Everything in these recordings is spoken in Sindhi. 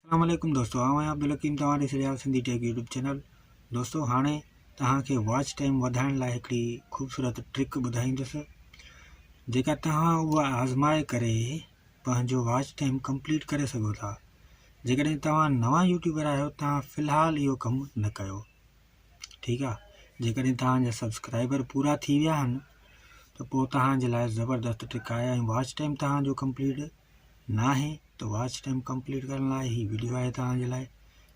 اسلام عليڪم دوستو آئون آهيان عبدالحڪيم توهان ڏسي رهيا آهيو سنڌي ٽيڪ يوٽيوب چينل دوستو هاڻي توهان کي واچ ٽائيم وڌائڻ لاء هڪڙي خوبصورت ٽرڪ ٻڌائيندس جيڪا توهان اها آزمائي ڪري پنهنجو واچ ٽائيم ڪمپليٽ ڪري سگهو ٿا جيڪڏهن توهان نوان يوٽيوبر آهيو توهان في الحال اهو ڪم نه ڪيو ٺيڪ آ جيڪڏهن توهان جا سبسڪرائبر پورا ٿي ويا آهن ته پوء توهان جي لاء زبردست ٽرڪ آهي ۽ واچ ٽائيم توهان جو ڪمپليٽ نه آهي ته واچ ٽائيم ڪمپليٽ ڪرڻ لاء هي ويڊيو آهي توهان جي لاء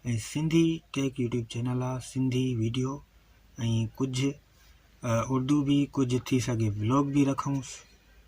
۽ سنڌي ٽيڪ يوٽيوب چينل آ سنڌي ويڊيو ۽ ڪجهه اردو به ڪجهه ٿي سگهي بلاگ به رکونس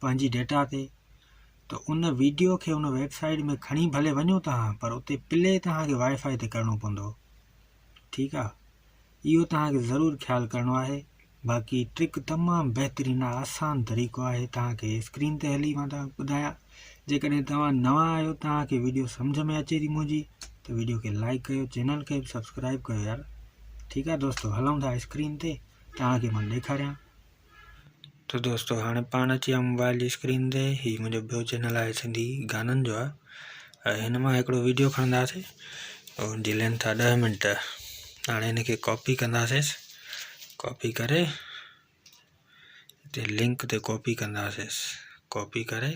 پنهنجي ڊيٽا تي ته ان ويڊيو کي ان ويب سائيٽ ۾ کڻي ڀلي وڃو توهان پر اتي پلي توهانکي وائي فائي تي ڪرڻو پوندو ٺيڪ آ اهو توهانکي ضرور خيال ڪرڻو آهي باقي ٽرڪ تمام بهترين آسان طريقو آهي توهانکي اسڪرين تي هلي مان توهان ٻڌايا جيڪڏهن توهان نوان آهيو توهانکي ويڊيو سمجھ ۾ اچي ٿي منهنجي ته ويڊيو کي لائڪ ڪيو چينل کي سبسڪرائب ڪيو يار ٺيڪ آ دوستو هلون ٿا اسڪرين تي توهانکي مان ڏيکاريان تو دوستو هاڻي پاڻ اچي ويا موبائل جي اسڪرين تي هي منهنجو ٻيو چينل آهي سنڌي گانن جو آهي هن مان هڪڙو ويڊيو کڻنداسي ان جي لينٿ آهي ڏهه منٽ هاڻي هن کي ڪاپي ڪنداسي ڪاپي ڪري هتي لنڪ تي ڪاپي ڪنداسي ڪاپي ڪري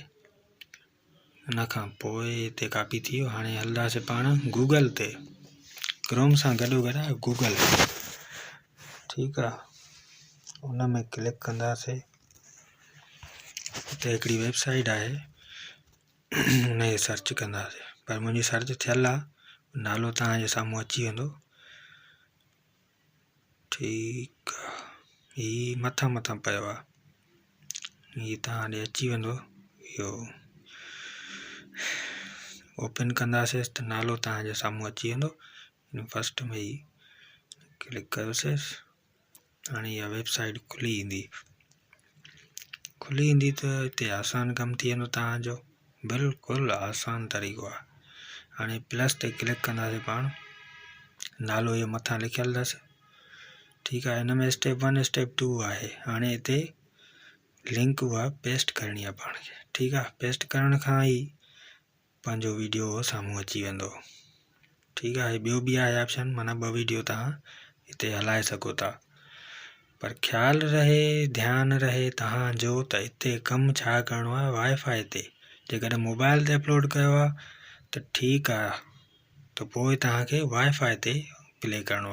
ان کان پوء هتي ڪاپي ٿي ويو هاڻي هلنداسي پاڻ گوگل تي ڪروم سان گڏو گڏ آهي گوگل ٺيڪ آهي ان ۾ ڪلڪ ڪنداسي هتي هڪڙي ويب سائيٽ آهي ان کي سرچ ڪنداسي پر منهنجي سرچ ٿيل آهي نالو توهان جي سامهون اچي ويندو ٺيڪ آ هي مٿان مٿان پيو آ هي تان ڏي اچي ويندو اهو اوپن ڪنداسي ته نالو تان سامهون اچي ويندو فسٽ ۾ هي ڪلڪ ڪيوسيس هاڻي اها ويب سائيٽ کلي ويندي کلي ايندي ته هتي آسان ڪم ٿي ويندو توهان جو بلڪل آسان طريقو آهي هاڻي پلس تي ڪلڪ ڪنداسي پاڻ نالو اهي مٿان لکيل اٿس ٺيڪ آهي هن ۾ اسٽيپ ون اسٽيپ ٽو آهي هاڻي هتي لنڪ اها پيسٽ ڪرڻي آهي پاڻ کي ٺيڪ آهي پيسٽ ڪرڻ کان ئي پنهنجو ويڊيو سامهون اچي ويندو ٺيڪ آهي ٻيو به آهي آپشن معنيٰ ٻه ويڊيو تهان هتي هلائي سگهو ٿا پر خيال رهي ڌيان رهي تهان جو ته هتي ڪم ڇا ڪرڻو آهي وائي فائي تي جيڪڏهن موبائل تي اپلوڊ ڪيو آهي ته ٺيڪ آهي ته پوء تهانکي وائي فائي تي پلي ڪرڻو آهي